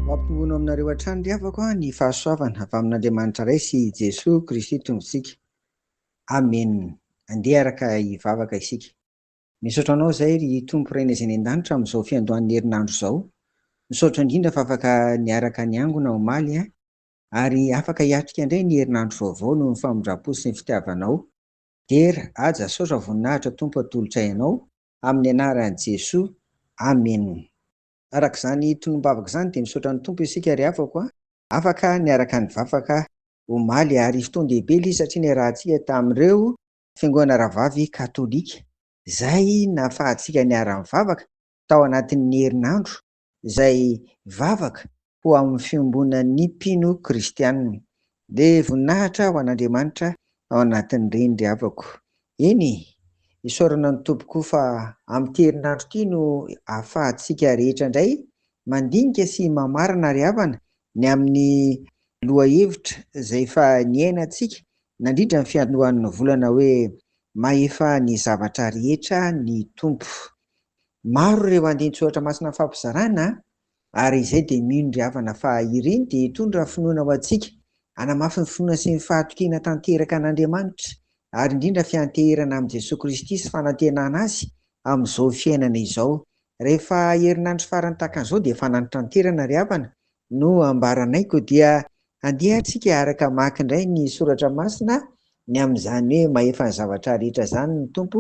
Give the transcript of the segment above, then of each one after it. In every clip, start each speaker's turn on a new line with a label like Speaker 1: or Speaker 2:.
Speaker 1: Mampitombona aminareo hatrany ry havako ny fahasoavana avy amin'Andriamanitra Ray sy i Jesoa Kristy Tompontsika. Amen. Andeha araka hivavaka isika. Misaotra Anao izahay ry Tompo Ray Naiza eny an-danitra amin'izao fiandohan'ny herinandro izao. Misaotra indrindra fa afaka niaraka niangona omaly ary afaka hiatrika indray ny herinandro vaovao noho ny famindram-po sy ny fitiavanao. Dear Haja Saotra Voninahitra Tompo Atolotray Anao Amin'ny Anaran'i Jesoa Amen. Arak'izany tonom-bavaka izany dia misaotra ny Tompo isika ry havako a! Afaka niaraka nivavaka omaly ary fotoan-dehibe ilay izy satria niarahantsika tamin'ireo fiangonana rahavavy katolika izay nahafahantsika niara-nivavaka tao anatin'ny herinandro izay vavaka ho amin'ny fiombonan'ny mpino kristianina, dia voninahitra ho an'Andriamanitra ao anatin'ireny ry havako. Eny e! Isaorana ny Tompo koa fa amin'ity herinandro ity no ahafahantsika rehetra indray mandinika sy mamarana ry havana ny amin'ny lohahevitra izay efa niainantsika nandritra ny fiandohan'ny volana hoe, Mahefa ny zavatra rehetra ny Tompo. Maro ireo andinin-tsoratra masina mifampizarana ary izay dia mino ry havana fa ireny dia hitondra finoana ho antsika, hanamafy ny finoana sy ny fahatokiana tanteraka an'Andriamanitra ary indrindra fianteherana amin'i Jesoa Kristy sy fanantenana Azy amin'izao fiainana izao. Rehefa herinandro farany tahaka an'izao dia fanantranterana ry havana No ambaranay koa dia andeha tsika hiaraka hamaky indray ny soratra masina ny amin'izany hoe mahefa ny zavatra rehetra izany ny Tompo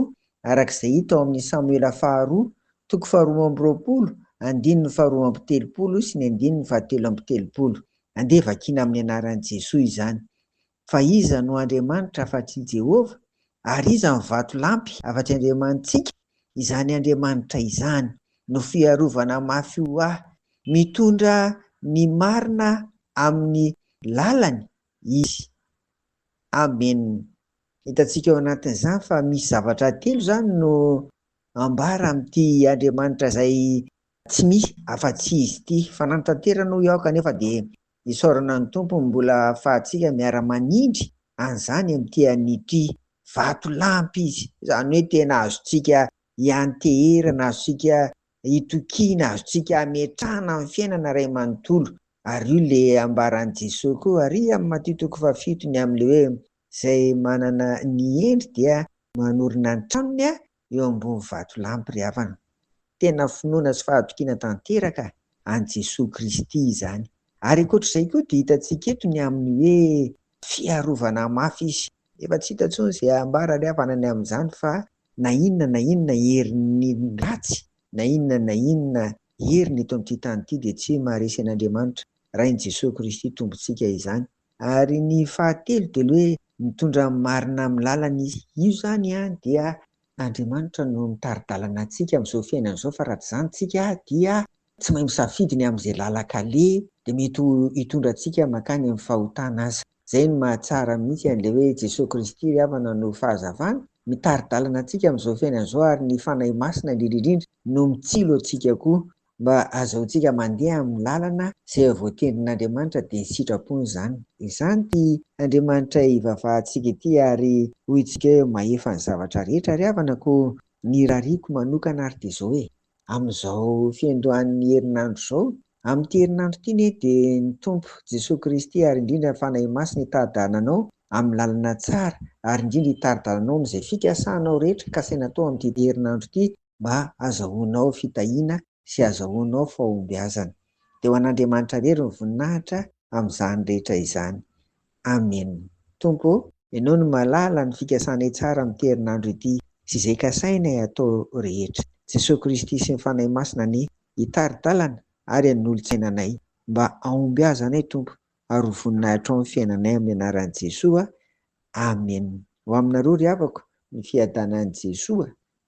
Speaker 1: araka izay hita ao amin'ny Samoela faharoa toko faharoa amby roapolo andininy faharoa amby telopolo sy ny andininy fahatelo amby telopolo. Andeha vakiana amin'ny anaran'i Jesoa izany. Fa iza no Andriamanitra afa-tsy i Jehovah, ary iza no vatolampy afa-tsy Andriamanitsika? Izany Andriamanitra izany no fiarovana mafy ho ahy. Mitondra ny marina amin'ny lalany izy. Amena. Hitantsika ao anatin'izany fa misy zavatra telo izany no ambara amin'ity Andriamanitra izay tsy misy afa-tsy izy ity. Fa nanatanterany hoy aho, kanefa dia Isaorana ny Tompo ny mbola ahafahantsika miara-manindry an'izany amin'ity an'ity vatolampy Izy. Izany hoe tena azontsika ianteherana, azontsika itokiana, azontsika ametrahana amin'ny fiainana iray manontolo. Ary io ilay ambaran'i Jesoa koa ary amin'ny Matio toko fahafito ny amin'ilay hoe izay manana ny hendry dia manorina ny tranony eo ambony vatolampy ry havana. Tena finoana sy fahatokiana tanteraka an'i Jesoa Kristy izany. Ary ankoatra izay koa dia hitantsika eto ny amin'ny hoe fiarovana mafy Izy. Efa tsy hita intsony izay ambara ry havana ny amin'izany fa na inona na inona herin'ny ratsy, na inona na inona heriny eto amin'ity tany ity dia tsy maharesy an'Andriamanitra, Rain'i Jesoa Kristy Tompontsika izany. Ary ny fahatelo dia ilay hoe mitondra ny marina amin'ny lalany izy. Io izany dia Andriamanitra no mitari-dalana antsika amin'izao fiainana izao fa raha tsy izany tsika dia tsy mahay misafidy ny amin'izay lalan-kaleha dia mety ho hitondra antsika mankany amin'ny fahotana aza. Izay no mahatsara mihitsy an'ilay hoe Jesoa Kristy ry havana no fahazavana, mitari-dalana antsika amin'izao fiainana izao ary ny Fanahy Masina indrindra indrindra no mitsilo antsika koa Mba azahoantsika mandeha amin'ny lalana izay voatendrin'Andriamanitra dia sitrapony izany. Izany ity Andriamanitray ivavahantsika ity ary hointsika hoe mahefa ny zavatra rehetra ry havana koa ny rariko manokana ary dia izao hoe, amin'izao fiandohan'ny herinandro izao, amin'ity herinandro ity anie dia ny Tompo Jesoa Kristy ary indrindra ny Fanahy Masina hitari-dalana anao amin'ny lalana tsara ary indrindra hitari-dalana anao amin'izay fikasanao rehetra kasaina atao amin'ity herinandro ity mba hazahoanao fitahiana sy hazahoanao fahombiazana. Dia ho an'Andriamanitra irery ny voninahitra amin'izany rehetra izany. Amena. Tompo ô! Ianao no mahalala ny fikasanay tsara amin'ity herinandro ity sy izay kasainay hatao rehetra. Jesoa Kristy sy ny Fanahy Masina anie hitari-dalana ary hanolotsaina anay. Mba hahombiazanay Tompo ary ho voninahitrao ny fiainanay amin'ny anaran'i Jesoa. Amena. Ho aminareo ry havako, ny fiadanan'i Jesoa